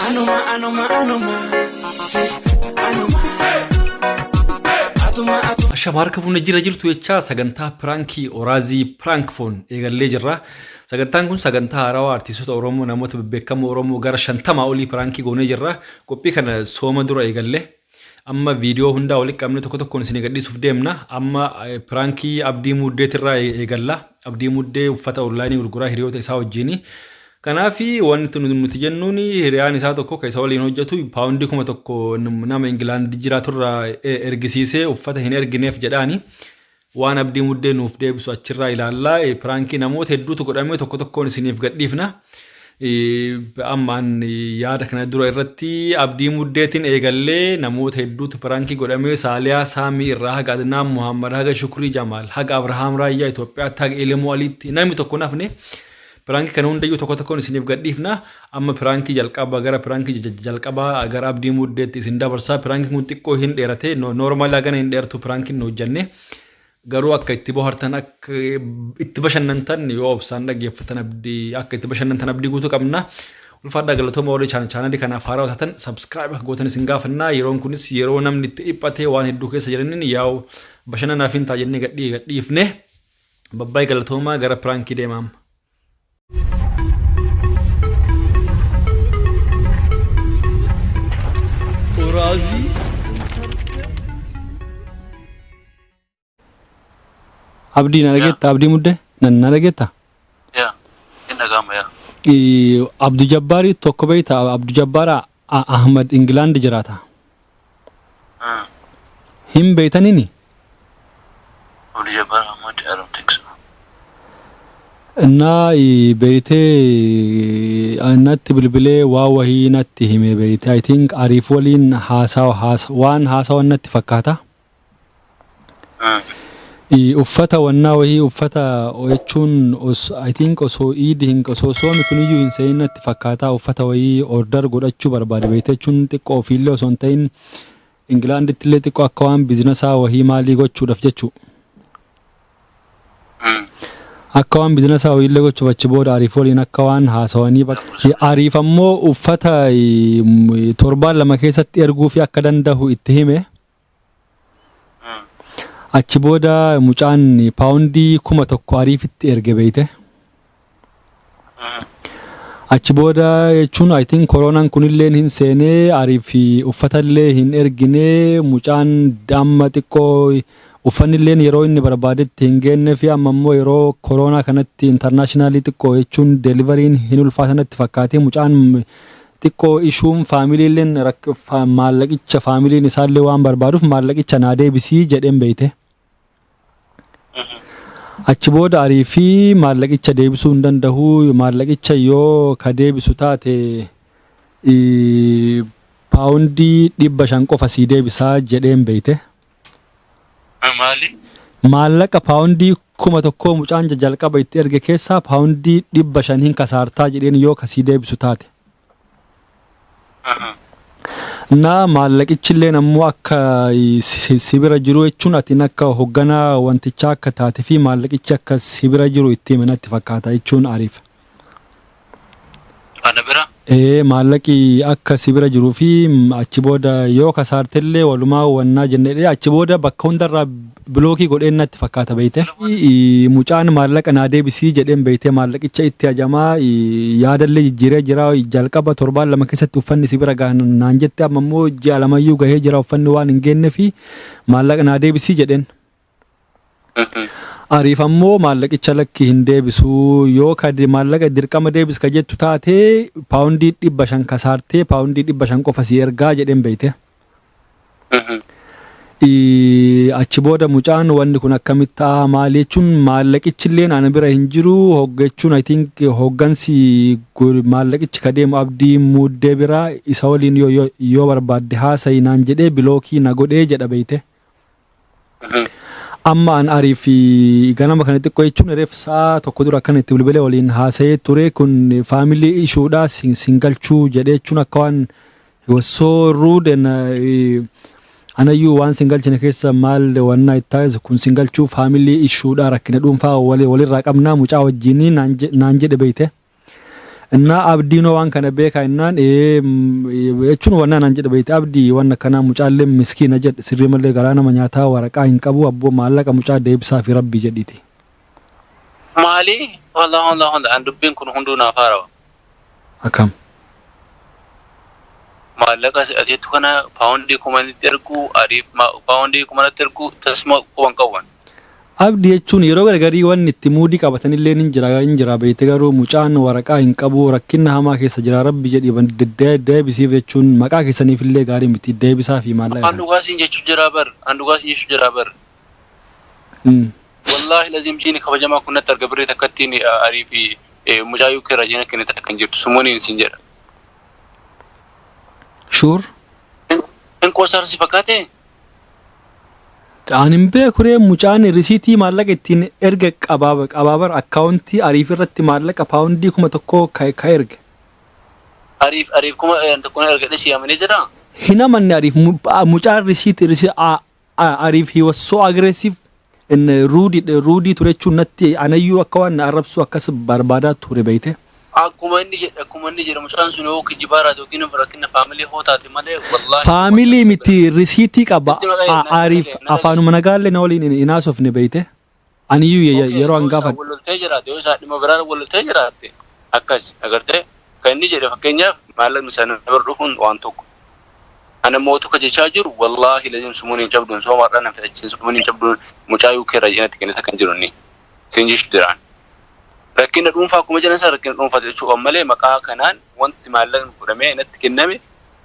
Anuma anuma anuma si anuma atuma atuma. Ashama harka fuunna jira jirtu jechaa sagantaa piraankii Oraazii piraank foon eegallee jirra. Sagantaan kun sagantaa haarawaa artiistota Oromoo namoota bebbeekamoo Oromoo gara shantamaa olii piraankii goonee jirra. Qophii kana sooma dura eegalle. Amma viidiyoo hundaa walitti qabnee tokko tokkoon isin gadhiisuuf deemna. Amma piraankii abdii muddeetirraa eegalla. Abdii muddee uffata onlaayinii gurguraa hiriyoota isaa wajjini. Kanaaf wanti nuti jennuun hiriyaan isaa tokko kan isa waliin hojjetu paawundii kuma tokko nama Ingilaand jiraaturraa ergisiisee uffata hin ergineef jedhaani. Waan Abdii Muddee nuuf deebisu achirraa ilaalla. Piraankii namoota hedduutu godhame tokko tokkoon isiniif gadhiifna. Ammaan yaada kana dura irratti Abdii Muddeetiin eegallee namoota hedduutu piraankii godhame Saaliyaa Saamii irraa haga Adnaan Muhammad haga Shukrii Jamaal haga Abrahaam Raayyaa Itoophiyaatti haga Ilimoo Aliitti namni tokko nafne Piraanki kana hundayyuu tokko tokkoon isiniif gadhiifna. Amma piraankii jalqaba gara piraankii jalqaba gara abdii muddeetti isin dabarsaa. Piraankiin kun xiqqoo hin dheerate. Noormaali hagana hin dheertu piraankiin nu hojjanne. Garuu akka itti bohartan akka itti bashannantan yoo obsaan dhaggeeffatan abdii akka itti bashannantan abdii guutuu qabna. Ulfaadhaa galatooma warri chaanaalii kanaaf haaraa taatan sabskiraayib akka gootan isin gaafanna. Yeroon kunis yeroo namni itti dhiphatee waan hedduu keessa jiraniin yaa'u bashannanaaf hin ta'a jennee gadhiifne. Babbaay galatoomaa gara piraankii deema amma. Uraazii Abdii na dhageetta abdii mudde na na dhageetta. yaa hin dhaga'ama yaa Abdu Jabbaari tokko beekta Abdu Jabbaaraa A. Ahmad Ingilaandi jiraata. A. Hin beeytanini? Abdul Jabbar Ahmad Arab Texas. Naa i beeytee a, natti bilbilee waa wahii natti hime beeyte I think Ariif waliin haasawa haasa waan haasawan natti fakkaata. Uffata wannaa wahii uffata oechuun os I think osoo iid hin osoo soomi kuniyyuu hin se'in natti fakkaataa uffata wahii order godhachuu barbaade beekte jechuun xiqqoo ofiillee osoo hin ta'in Ingilaanditti illee xiqqoo akka waan bizinasaa wahii maalii gochuudhaaf jechuu akka waan bizinasaa wahiillee gochuuf achi booda ariif waliin akka waan haasawanii bakka ariif ammoo uffata torbaan lama keessatti erguu fi akka dandahu itti hime. Achi booda mucaan paawundii kuma tokko ariifitti erge beeyte. Achi booda jechuun I think koroonaan kunilleen hin seenee ariif uffatallee hin erginee mucaan amma xiqqoo uffannilleen yeroo inni barbaadetti hin geenne fi amma immoo yeroo koroonaa kanatti intarnaashinaalii xiqqoo jechuun deelivariin hin ulfaatanatti fakkaatee mucaan Xiqqoo ishuun faamiliilleen maallaqicha faamiliin isaallee waan barbaaduuf maallaqicha naa deebisii jedheen beeyte. Achi booda arii fi maallaqicha deebisuu hin danda'u maallaqicha yoo ka deebisu taate paawundii dhibba shan qofa sii deebisaa jedheen beeyte. Kun maali? Maallaqa paawundii kuma tokkoo mucaan jajalqaba itti erge keessaa paawundii dhibba shan hin kasaartaa jedheen yoo ka sii deebisu taate. Ahaa. Na maallaqichilleen ammoo akka si si bira jiru jechuun atiin akka hogganaa wantichaa akka taate fi maallaqichi akka si bira jiru itti hime natti fakkaata jechuun ariifa. Ana bira? Ee maallaqi akka si bira jiruu fi achi booda yoo kasaarte illee walumaa wannaa jenne jedhee achi booda bakka hundarraa bilookii godheen natti fakkaata beeyte. Ii, Mucaan maallaqa naa deebisii jedheen beeytee maallaqicha itti hajamaa ii, yaadallee jijjiiree jira jalqaba torbaan lama keessatti uffanni si bira gaha naan jette amma immoo ji'a lamayyuu gahee jira uffanni waan hin geenne fi maallaqa naa deebisii jedheen. Ariif ammoo maallaqicha lakki hin deebisu yoo ka de- maallaqa dirqama deebis ka jettu taate paawundii dhibba shan kasaartee paawundii dhibba shan qofa si ergaa jedheen beeyte. Ii, Achi booda mucaan wanni kun akkamitti ta'a maal jechuun maallaqichilleen ana bira hin jiru hogga jechuun I think hoggansi go- maallaqichi ka deemu abdii muuddee bira isa waliin yoo, yoo, yoo barbaadde haasayi naan jedhee bilookii na godhee jedha beeyte. Amma an ariif ganama kana xiqqoo jechuun reef sa'a tokko dura akkana itti bilbilee waliin haasa'ee ture kun faamilii ishuudhaa sin sin galchuu jedhee jechuun akka waan he was so rude and eh, anayyuu waan sin galchine keessa maal wannaa itti taasisu kun sin galchuu faamilii ishuudhaa rakkina dhuunfaa wali- walirraa qabnaa mucaa wajjinii naan je- naan jedhe beeyte. Innaa abdiinoo waan kana beekaa innaan ee jechuun wannaan an jedhe beekte abdii waan akkanaa mucaallee miskiina jedhe sirrii mallee garaa nama nyaataa waraqaa hin qabu abboo maallaqa mucaa deebisaa fi rabbii jedhiiti. Maali hola hola hola an dubbiin kun hunduu naaf haarawa. Akkam. Maallaqa si akeektu kana paawundii kumanitti ergu, Ariif paawundii kumanatti ergu, tasuma quba hin qabu ani. Abdi jechuun yeroo garagarii wanni itti muudii qabatan illeen hin jira hin jira beeyte garuu mucaan waraqaa hin qabuu rakkinna hamaa keessa jira rabbi jedhi deebisiif jechuun maqaa keessaniif illee gaarii miti deebisaafii maallaqa kana. An dhugaa siin jechuu jiraa bar an dhugaa siin jechuu jiraa bar. Wallaahi laziim jiini kabajamaa kun natti arga birrii takkattiin arii fi mucaa UK irraa jiina kenne takka hin jirtu sumoniin siin jedha. Shuur. Hin qoosaara si fakkaatee? Aan hin beeku ree mucaan risiitii maallaqa ittiin erga qabaaba qabaabar akkaawuntii ariif irratti maallaqa paawundii kuma tokkoo ka ka erge. Ariif ariif kuma tokko na erga dhisi yaamanii jedhaa? Hin amanne ariif mu- a- mucaan risiitii risi a- Arif he was so aggressive and rude rude ture jechuun natti anayyuu akka waan na arrabsuu akkas barbaadaa ture beeyte. Akkuma inni jedhe akkuma inni jedhe mucaan sun yoo kijibaa irraati yookiin rakkinna family hoo taate malee wallahi. Family miti risiitii qaba Arif afaanuma nagaallee na waliin hin haasofne beeyte. Aniyyuu ye- Okay, yeroo yoo an isaa gaafadhe wal loltee jiraatte, yoo isaa dhimma biraan wal loltee jiraatte, akkas agartee kan inni jedhe fakkeenyaaf maallaqni isaa na bira dhufuun waan tokko. Ana mootu ka jechaa jiru wallaahi lazim sumuun hin cabduun sooma har'aa nan fixachiisin sumuun hin cabduun mucaa UK irraa jedhanatti kennita kan jiru inni. Siin jechuu jiraan. Rakkina dhuunfaa akkuma jedhan sana rakkina dhuunfaati jechuu qaban malee maqaa kanaan wanti maallaqni godhamee natti kenname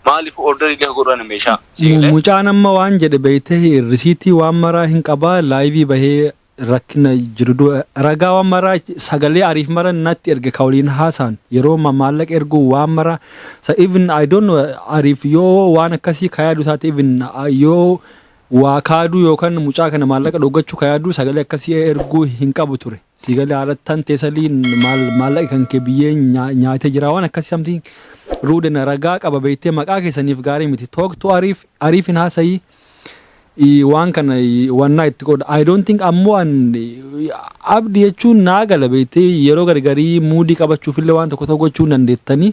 maalifu orderii neh godhani meshaa sii galee. Mucaan amma waan jedhe beyteh risiitii waan maraa hin qabaa live bahee rakkina jirudu ragaa waan maraa sagalee ariif mara natti erge ka waliin haasaan yeroo ma maallaqa erguu waan maraa sa even I don't know ariif yoo waan akkasii ka yaadu taate even yoo waa kaaduu yookan mucaa kana maallaqa dhoggachuu ka yaadu sagalee akkasii erguu hin qabu ture. Sii galee haadha tantee salii maal- maallaqa kan kee biyyee nyaa- nyaatee jira waan akkasii samtiin ruudena ragaa qaba beektee maqaa keessaniif gaarii miti talk to ariif ariif hin haasayii Ii, waan kana ii, wannaa itti qooda I don't think ammoo an ii, abdi jechuun naa gala beektee yeroo gargarii muudii qabachuuf illee waan tokko tokko gochuu hin dandeettanii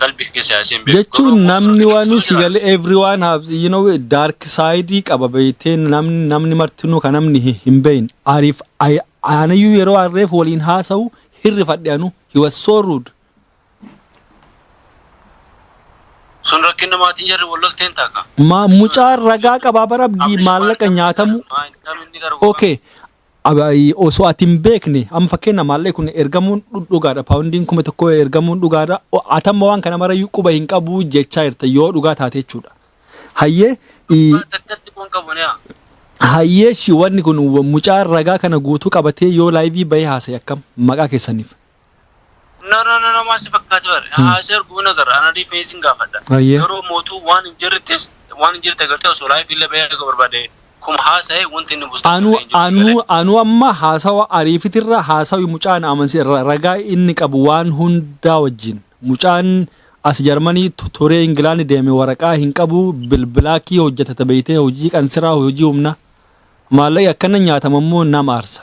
qalbi kee siyaasee hin beeku. Jechuun namni wanu si gale everyone have you know dark side qaba beeytee namni namni martinuu ka namni hi- hin beeyin ariif ay- anayyuu yeroo arreef waliin haasa'u hirrifadhe anu he was so rude Sun rakkinna maatiin jarri wal lolteen taaka. ma mucaan ragaa qabaa bara abdii maallaqa nyaatamu Maa hin qabne inni garuu. okay Osoo ati hin beekne amma fakkeenya maallaqni kun ergamuun dhugaadha paawundiin kuma tokko ergamuun dhugaadha ati amma waan kana marayyuu quba hin qabu jechaa jirta yoo dhugaa taate jechuudha. Hayyee Daggatti kun qabu ni haa. hayyee shi wanni kun mucaan ragaa kana guutuu qabatee yoo laayivii bahee haasa'e akkam maqaa keessaniif. No no no no maal si fakkaate bare. Haa si arguu na gara ana dii feesin gaafadha. Ayyee. Garuu mootuu waan hin jirrettis waan hin jirte gartee osoo laayif illee bahee akka barbaade kum haasa'e wanti inni buustu Anu hin jiru. anu anu amma haasawa ariifitirra haasawi mucaan amansi irra ragaa inni qabu waan hundaa wajjin mucaan as jarmanii tu- turee ingilaandi deeme waraqaa hin qabu bilbilaakii hojjetata beeytee hojii qansiraa hojii humna maallaqi akkana nyaatama immoo nama aarsa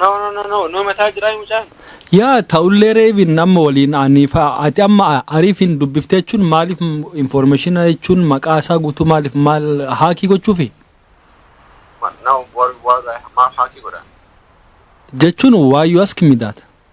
No no no no no mataa jiraa mucaan. Yaa ta'ullee reebiin amma waliin ani fa- ati amma ariifiin dubbiftee jechuun maaliif informationa jechuun maqaa isaa guutuu maaliif maal haakii gochuufi Ma- No war war maaf haakii godha. jechuun why you ask me that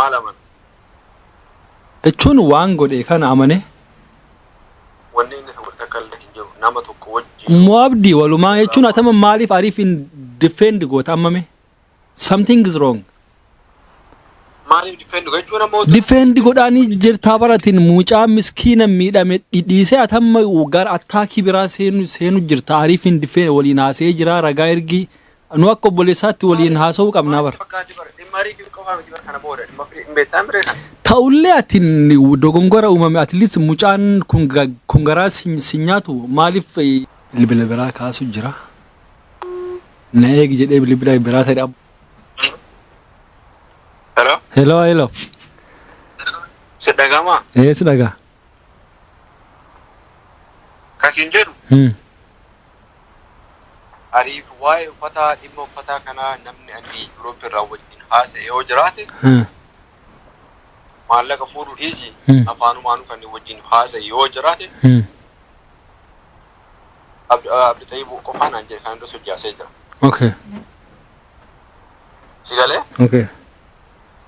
maal amana? jechuun waan godhe kana amane. wanni inni isa godhe takka illee hin jiru nama tokko wajjin yoo Mo Abdi walumaa jechuun atama maaliif ariif hin defend goota ammame? Something is wrong. maaliif difeendu jechuun ammoo Defend godhaanii jirtaa baratiin mucaa miskiina miidhame dhidhiisee atamma gara attaakii biraa seenu seenu jirta ariif hin defend waliin haasee jira ragaa ergii Nu akka obboleessaatti waliin haasa'uu qabnaa bar. Ta'ullee ati dogongora uumame at least mucaan kun ga- kun garaa sin sin nyaatu maaliif eh, bilbila biraa kaasu jira. Na eegi jedhee bilbila biraa ta'e dhabu. Hello? Hello hello. Si dhagama? Ee si dhagaa. Kasiin jedhu Hmm. Ariif waa'ee uffataa dhimma uffataa kanaa namni ani Yuuroop irraa wajjin haasa'e yoo jiraate Hmm. maallaqa fuudhu dhiisi Hmm. afaanumaanuu kan wajjin haasa'e yoo jiraate Hmm. Abd- Abdi Xayyib qofaan aan jedhe kan irra sojaasee jira. Okay. Si galee? Okay.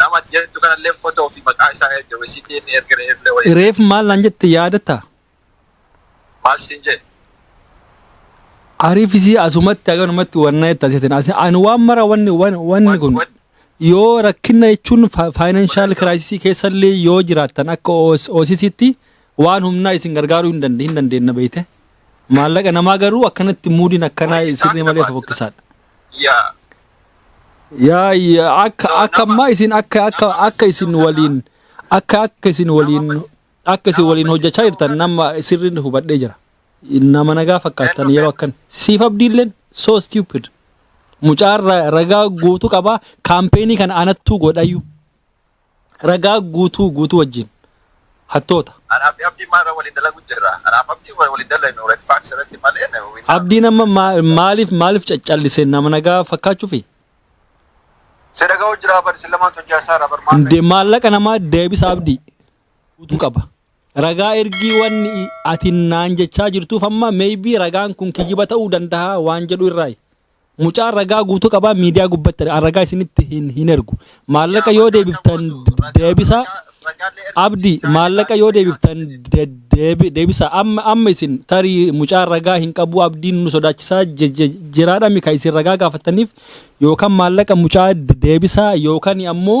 Nama ati jettu kanallee fotoo fi maqaa isaa erge wayi sitti inni erge reeflee wayi erge Reef maal naan jette yaadatta? maal siin jee? Ariif isii asumatti haganumatti wanna jettan seetin. Asi- Ani waan mara wanni wan- wanni Wan- kun wan- yoo rakkina jechuun fa- financial Wal- crisis keessallee yoo jiraattan akka OS- OCCtti waan humnaa isin gargaaruu hin dande- hin dandeenna beekte. Maallaqa namaa garuu akkanatti muudiin akkanaa Wayii sirrii isaanii malee nama fokkisaadha. yaa yaa yaa akka so akka nama ammaa isin akka akka nama akka isin isin hojjatu waliin kana akka akka isin nama waliin mas akka isin nama waliin hojjachaa miskinnoo jirtan kana nama sirriin hubadhee jira nama nagaa fakkaatan kennu yeroo fedhu akkan siif abdiilleen so stupid mucaan ra- ragaa guutuu qabaa kaampeenii kana anattuu godhayyuu Ragaa guutuu guutuu wajjin. Hattoota. Anaa fi Abdiin maal irra waliin dalagu jirra? Anaa fi Abdiin wal waliin dalagnu red facts irratti malee we not Abdiin amma ma- misunderstand. maaliif maaliif caccallise nama nagaa fakkaachuufi? Si dhaga'u jiraa bar isin lamaan hojjaa isaa irraa bar maal Nde dhaga'u? maallaqa namaa deebisa abdii guutuu qaba. Ragaa ergii wanni i- ati naan jechaa jirtuuf amma maybe ragaan kun kijjiba ta'uu danda'a waan jedhu irraayi. Mucaan ragaa guutuu qabaa miidiyaa gubbatti an ragaa isinitti hin, hin ergu. Maallaqa yoo deebiftan deebisa. Abdi maallaqa yoo deebiftan de- deebi- deebisa. Amma amma isin tarii mucaan ragaa hin qabu abdiin nu sodaachisaa je- je- jiraadhami kan isin ragaa gaafataniif yookaan maallaqa mucaa de- deebisa yookaan ammoo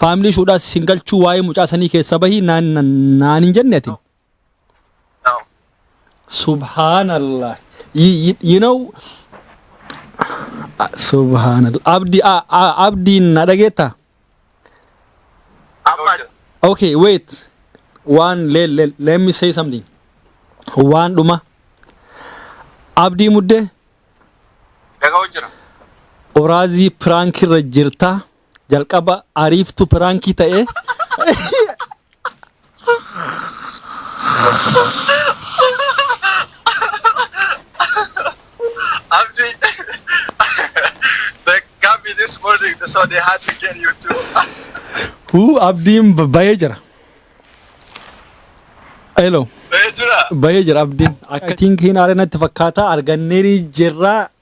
Faamilii ishuudhaas isin galchuu waa'ee mucaa sanii keessa bahii naan naan- naan hin jenne ati. No. Subhanallah. You, you, you know, ah, subhanallah. Abdi, ah, ah, Abdi na dhageetta? Amma Okay, wait. One, let, let, let me say something. Waan dhuma. Abdii muddee dhaga'u jira. oraazii piraank irra jirta Jalqaba ariiftu piraankii ta'ee. Abdi, they got me this morning, so they had to get you too. Huu abdiin b- bayee jira. Hello. Hey, Jira. Bayee jira abdiin. Akka tiinkiin aare natti fakkaata arganneerii jirra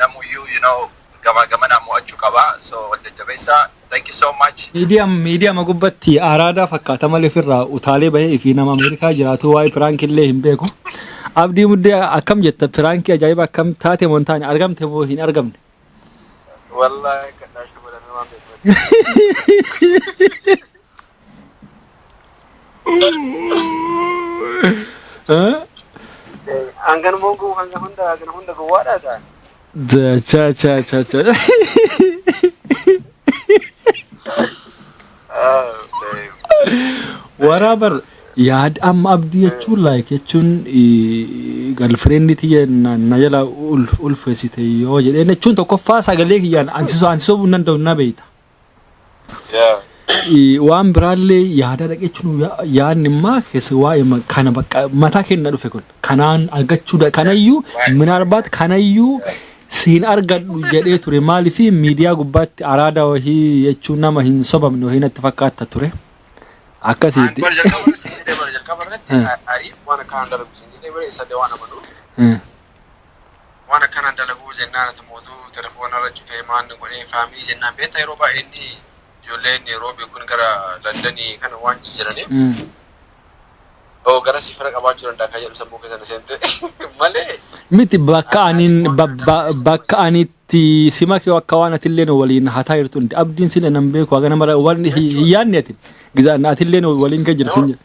namuyyuu you know gamaa gamanaa mo'achuu qaba so wal jajjabeessaa thank you so much Miidiyam miidiyama gubbatti araadaa fakkaata malee ofirraa utaalee bahee fi nama Ameerikaa jiraatu waa'ee piraankii illee hin beeku. Abdii muddee akkam jetta piraankii ajaa'iba akkam taate moo hin taane argamte moo hin argamne. Wallahi kan daashuu godhamee waan beeku. Hangan mogu hangan hunda hangan hunda gowwaadha gaa. Cha cha cha cha. Waraabar yaad amma abdii jechuun like jechuun galfireenni tiyya na na jala ulfeessite yoo jedheen jechuun tokkoffaa sagalee kiyyaan ansisoo ansisoo hin danda'u na beekta. Yeah. Eh, waan biraallee yaadaa dhaqeechuun yaadni immaa keessa waa'ee ma- kana bakka mataa kenna dhufe kun kanaan argachuu da- kanayyuu minaalbaat kanayyuu siin argadhu jedhee ture maaliif miidiyaa gubbaatti araada wahii jechuun nama hin sobamne wahii natti fakkaata ture Ani akkasiiti. bara jalqaba irratti siin jedhee bara jalqaba irratti Eh. ariif waan akkanaan darbu siin jedhee bara isa illee waan amanuu Eh. waan akkanaan dalaguu jennaan ati mootuu telefoona irra cufee maanni godhee faamilii jennaan beekta yeroo baay'ee inni ijoolleen roobii kun gara landanii kana waan jijjiraniif oo gara si fira qabaachuu danda'a kan jedhu sammuu keessa na seente malee Miti bakka ani ba- ba- bakka ani itti sima kee akka waan atillee nu waliin hataa jirtu hundi abdiin sila nan beeku haga nama waan hin yaadne ati gizaan atillee nu waliin kee jirtu hin jedhu.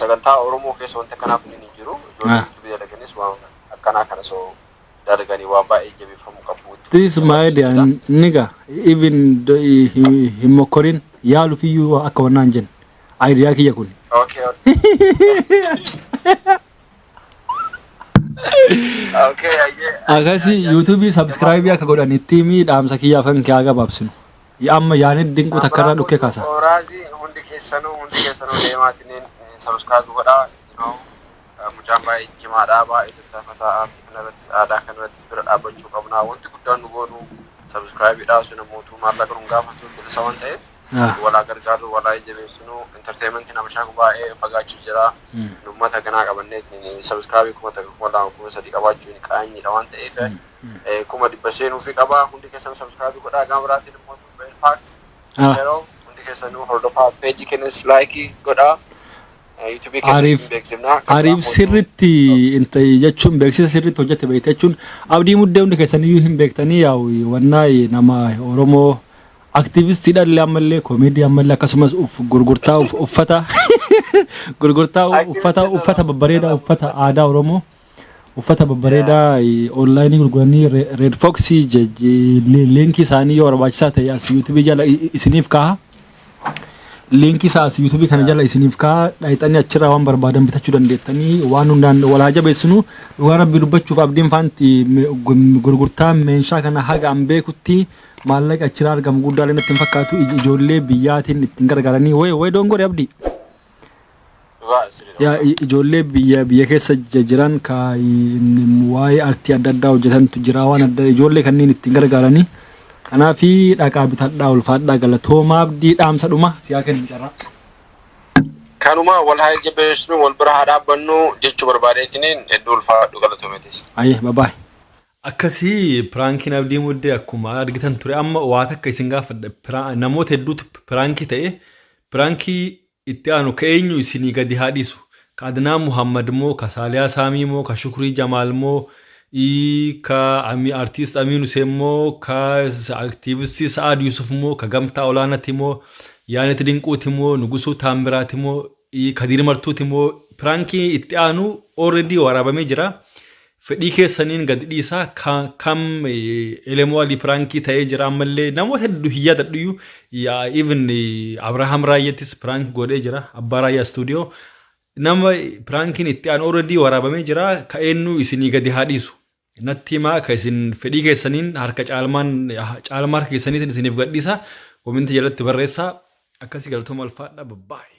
sagantaa Oromoo keessa wanti akkanaa kun hin jiru. Ijoollee YouTube dalaganis waan akkanaa kana soo dalaganii waan baay'ee jabeeffamuu qabu. This my idea nigga even hin mokkorin yaalufiyyuu akka wannaan jen idea kiyya kun. Okay, okay. okay, ayyee. Akkasii YouTube subscribe akka godhan itti himi dhaamsa kiyyaaf kan kiyyaa gabaabsinu. Yaa amma yaaned dinquu takka irraa dhukkee kaasa. Abrahaam guutuu Raazi hundi keessanuu hundi keessanuu deemaatiniin subscribe godhaa you know mucaan baay'ee cimaadha baay'ee tattaafata aartii kana irrattis aadaa kana irrattis bira dhaabbachuu qabna wanti guddaan nu goonu subscribe dha sun mootuu maallaqa nun gaafatu bilisa waan ta'eef Ah. walaa gargaarru walaa jabeessinu entertainment nama shaaku baay'ee fagaachuu jira Mm. nummata ganaa qabanneetiin subscribe kuma takka kuma lama kuma sadii qabaachuun qaanyiidha waan ta'eef eh, kuma dhibba seenuufi qaba hundi keessan subscribe godhaa gama biraatiin immoo tu beer fact Ah. yeroo hundi keessanuu hordofaa peejii kennis laayikii godhaa Eh, yuutuubii kennis Ariif- hin beeksifnaa Ariif sirritti inta- jechuun beeksisa sirritti hojjete beekte jechuun abdii muddee hundi keessaniyyuu hin beektanii yaa'u wannaa nama Oromoo aktiivistiidha illee ammallee koomeedii ammallee akkasumas uff- gurgurtaa uff- uffata gurgurtaa uffata uffata babbareedaa uffata aadaa Oromoo Uffata babbareedaa online gurguranii Red Fox liinkii isaanii yoo barbaachisaa ta'e as YouTube jala isiniif kaaha. Liinkii isaa as YouTube kana jala isiniif kaaha. Dhayxanii achirraa waan barbaadan bitachuu dandeettanii waan hundaan wal haa jabeessinu. Dhugaa rabbii dubbachuuf abdiin faanti gurgurtaa meeshaa kana haga an beekutti maallaqa achirraa argamu guddaa illee natti hin fakkaatu ijoollee biyyaatiin ittiin gargaaranii way way doongore abdii. Dhugaa sirriidha Yaa dhugaa. i- ijoollee biyya biyya keessa jija jiran ka i- m- waa'ee artii adda addaa hojjetantu jira waan adda ijoollee kanneen ittiin gargaaranii kanaaf dhaqaa bitadhaa ulfaadhaa galatoomaa abdii dhaamsa dhuma siyaa kennu carraa. Kanuma wal haa jajjabeessinu wal bira haa dhaabbannu jechuu barbaadee isiniin hedduu ulfaadhu galatoometis. Ayyee babaay. Akkasii piraankiin abdii muddee akkuma argitan ture amma waa takka isin gaafadha Piraa- namoota hedduutu piraankii ta'e Pirankii itti aanu ka eenyu isinii gadi haa dhisu ka adnaan muhammad moo ka saaliyaa saamii moo ka shukrii jamaal moo ii ka ami artist amiin huseen moo ka activistii sa'aad yusuf moo ka gamtaa olaanati moo yaanit dinquuti moo nugusuu taammiraati moo ii kadiir martuuti moo pirankii itti aanu already waraabamee jira Fedhii keessaniin gad dhiisaa kam elemoo alii piraankii ta'ee jira ammallee namoota hedduu hin yaadadhuyyuu even Abrahaam Raayyattis piraank godhee jira abbaa Raayyaa istuudiyoo nama piraankiin itti aan already waraabamee jira ka eenyu isinii gadi haa dhiisu natti himaa ka isin fedhii keessaniin harka caalmaan caalmaa harka keessaniitiin isiniif gadhiisa kominti jalatti barreessaa akkasii galatooma alfaadha babbaa'e.